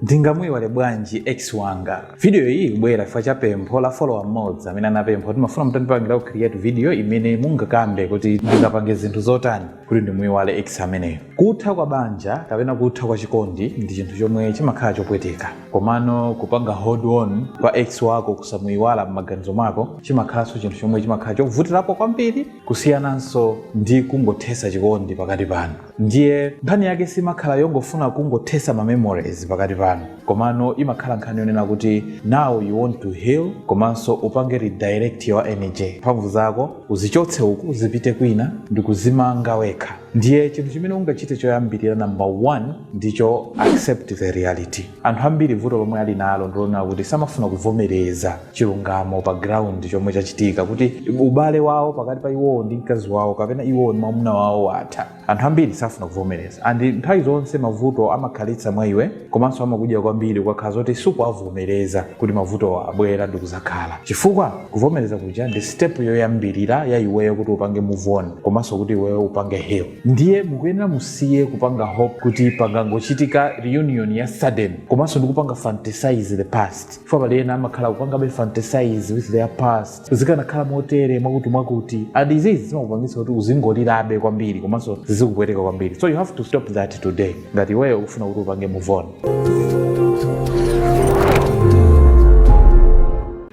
Ndingamuiwale bwanji ex wanga? Video iyi ikubwera chifukwa cha pempho la follower mmodzi amene anapempha kuti ndimafuna mutandipangirako create video imene mungakambe kuti ndingapange zinthu zotani kuti ndimuiwale ex ameneyo. Kutha kwa banja kapena kutha kwa chikondi ndi chinthu chomwe chimakhala chopweteka. Komano kupanga hold on kwa ex wako kusamuiwala m'maganizo mwako chimakhalanso chinthu chomwe chimakhala chovutirapo kwambiri kusiyananso ndi kungothetsa chikondi pakati panu. ndiye nkhani yake siimakhala yongofuna kungothetsa ma memories pakati panu komano imakhala nkhani yonena kuti now you want to heal komanso upange redirect your energy mphamvu zako uzichotse uku zipite kwina ndi kuzimanga wekha ndiye chinthu chimene ungachite choyambirira number one ndicho accept the reality anthu ambiri vuto lomwe ali nalo ndilonena kuti samafuna kuvomereza chilungamo pa ground chomwe chachitika kuti ubale wawo pakati pa iwowo ndi mkazi wawo kapena iwowo ndi mwamuna wawo watha anthu ambiri safuna kuvomereza and nthawi zonse mavuto amakhalitsa mwa iwe komanso amakudya kwambiri ukakhala zoti sukuwavomereza kuti mavutowa abwera ndi kuzakhala chifukwa kuvomereza kuja ndi step yoyambirira ya iweyo kuti upange move on komanso kuti iweyo upange heal ndiye mukuyenera musiye kupanga hope kuti pangangochitika reunion ya sudden komanso ndikupanga fantasize the past chifukwa pali ena amakhala akupangabe fantasize with their past zikanakhala motere mwakuti mwakuti and izizi zimakupangitsa kuti uzingolirabe kwambiri komanso zizikupweteka kwambiri so you have to stop that today ngati iweyo ukufuna kuti upange move on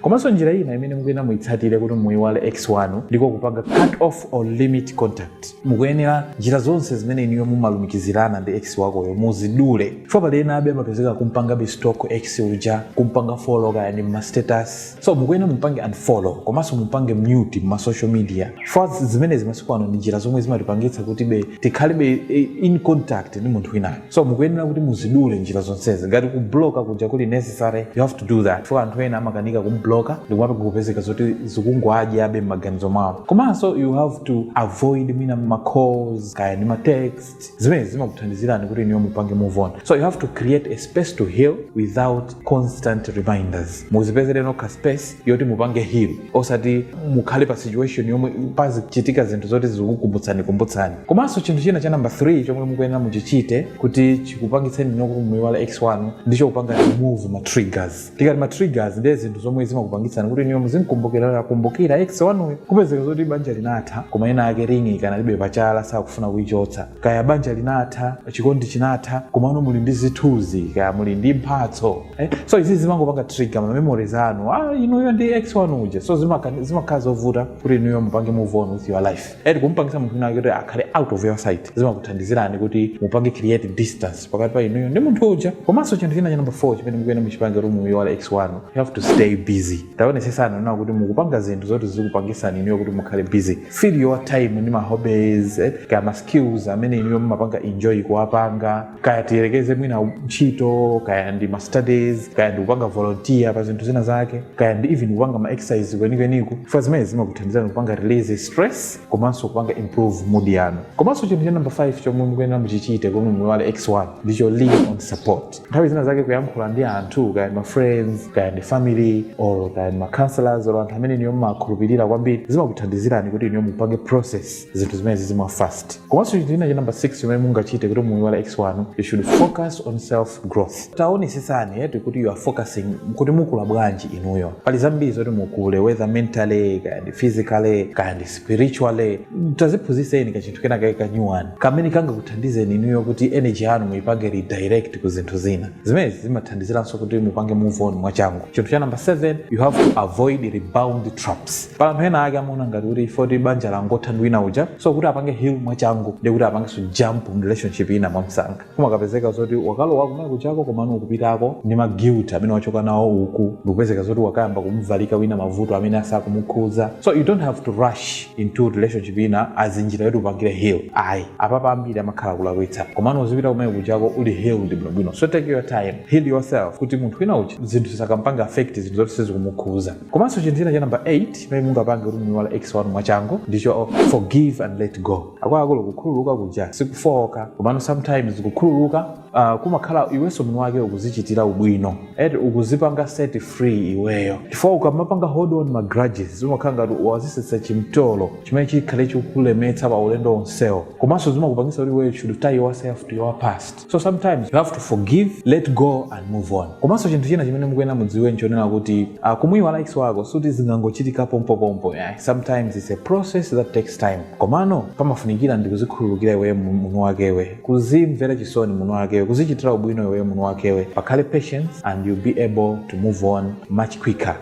komanso njira ina imene mukuyenera muitsatire kuti muiwale ex wanu ndiko kupanga cut off or limit contact mukuyenera njira zonse zimene inuyo mumalumikizirana ndi ex wakoyo muzidule chifukwa pali ena abe amapezeka kumpangabe stalk ex uja kumpanga follow kaya ndi m'mastatus so mukuyenera mumpange unfollow komanso mumpange mute m'ma social media chifukwa zimenezi masiku ano ndi njira zomwe zimatipangitsa kuti be tikhalebe in contact ndi munthu winayo so mukuyenera kuti muzidule njira zonsezi ngati kubloka kuja kuli necessary you have to do that chifukwa anthu ena amakanika kumbloka ndikumapezeka zoti zikungowadyabe m'maganizo mwawo komanso you have to avoid mwina macalls kaya ndi matext zimene zimakuthandizirani kuti inuyo mupange move on so you have to create a space to heal without constant reminders muzipezere nokha space yoti mupange heal osati mukhale pa situation yomwe pazichitika zinthu zoti zikukumbutsani kumbutsani komanso chinthu china cha namba 3 chomwe mukuyenera muchichite kuti chikupangitseni inuyo kuti muiwale ex wanu ndicho kupanga remove ma triggers tikati ma triggers ndiye zinthu zomwe zimakupangitsani kuti inuyo muzimkumbukira kumbukira ex wanuyo kupezeka zoti banja linatha koma ena ake ringi ikanalibe pachala sakufuna kuichotsa kaya banja linatha chikondi chinatha komano muli ndi zithunzi kaya muli ndi mphatso Eh, so izi zimangopanga trigger ma memories anu ah inuyo ndi ex wanu uja so zimaka- zimakhala zovuta kuti inuyo mupange move on with your life eti kumupangisa munthu wina kuti akhale out of your sight zimakuthandizirani kuti mupange create distance pakati pa inuyo ndi munthu uja komanso chinthu china cha number 4 chimene mukuyenera muchipange kuti muyiwale ex wanu you have to stay busy taonesesani kunena kuti mukupanga zinthu zoti zikupangisani inuyo kuti mukhale busy fill your time ndi ma hobbies eh, kaya ma skills amene inuyo mumapanga enjoy kuwapanga kaya tiyerekeze mwina ntchito kaya ndi ma studies kaya ndi kupanga volunteer pa zinthu zina zake kaya ndi even kupanga ma exercise kwenikweniko chifukwa zimenezi zimakuthandizirani kupanga release stress komanso kupanga improve mood yanu komanso chinthu cha number 5 chomwe mukuyenera muchichite kuti muyiwale ex wanu ndicho lean on support nthawi zina zake kuyankhula ndi anthu kaya ndi ma friends kaya ndi family or kaya ndi ma counselors or anthu amene inuyo mmakhulupirira kwambiri zimakuthandizirani kuti inuyo mupange process zinthu zimene zizimwa fast komanso chinthu china cha number 6 chimene mungachite kuti muyiwale ex wanu you should focus on self growth taonesesani eti kuti you are focusing kuti mukula bwanji inuyo pali zambiri zoti mukule whether mentally kaya ndi physically kaya ndi spiritually taziphunzitseni ka chinthu kena kake kanyuwani kamene kangakuthandizeni inuyo kuti energy yanu muyipange redirect ku zinthu zina zimenezi zimathandiziranso kuti mupange move on mwachangu chinthu cha number 7 you have to avoid rebound traps pali anthu ena ake amaona ngati kuti if kuti banja langa latha ndi wina uja so kuti apange heal mwachangu ndiye kuti apangenso jump mu relationship ina mwamsanga kumakapezeka zoti wakalowa kumene kujako komano ukupitako ndi ma guilt amene wachoka nawo uku ndikupezeka zoti wakayamba kumuvalika wina mavuto amene asakumukhuza so you don't have to rush into relationship ina as njira yoti upangire heal ayi apapa ambiri amakhala kulakwitsa komano uzipita kumene kujako uli healed bwinobwino so take your time heal yourself kuti munthu wina uja zinthu zisakampange affect zinthu zoti sizikumukhuza komanso chinthu china cha namba 8 chimene mungapange kuti muiwale ex wanu mwachangu ndicho forgive and let go akuluakulu kukhululuka kuja si kufowoka komano sometimes kukhululuka uh, kumakhala iwenso mwini wake ukuzichitira ubwino eti ukuzipanga set free iweyo chifukwa ukamapanga hold on ma grudges umakhala ngati wazisenzetsa chimtolo chimene chikhale chikukulemetsa pa ulendo onsewo komanso zimakupangisa kuti iweyo should tie yourself to your past so sometimes you have to forgive let go and move on komanso chinthu china chimene mukuyenera mudziwe nchonena kuti uh, kumuyiwala ex wako sikuti zingangochitika pompopompo yeah. sometimes it's a process that takes time komano pamafunikira ndi kuzikhululukira iweyo mwini wakewe kuzimvera chisoni mwini wakewe kuzichitira ubwino iweyo mwini wakewe pakhale patience and you'll be able to move on much quicker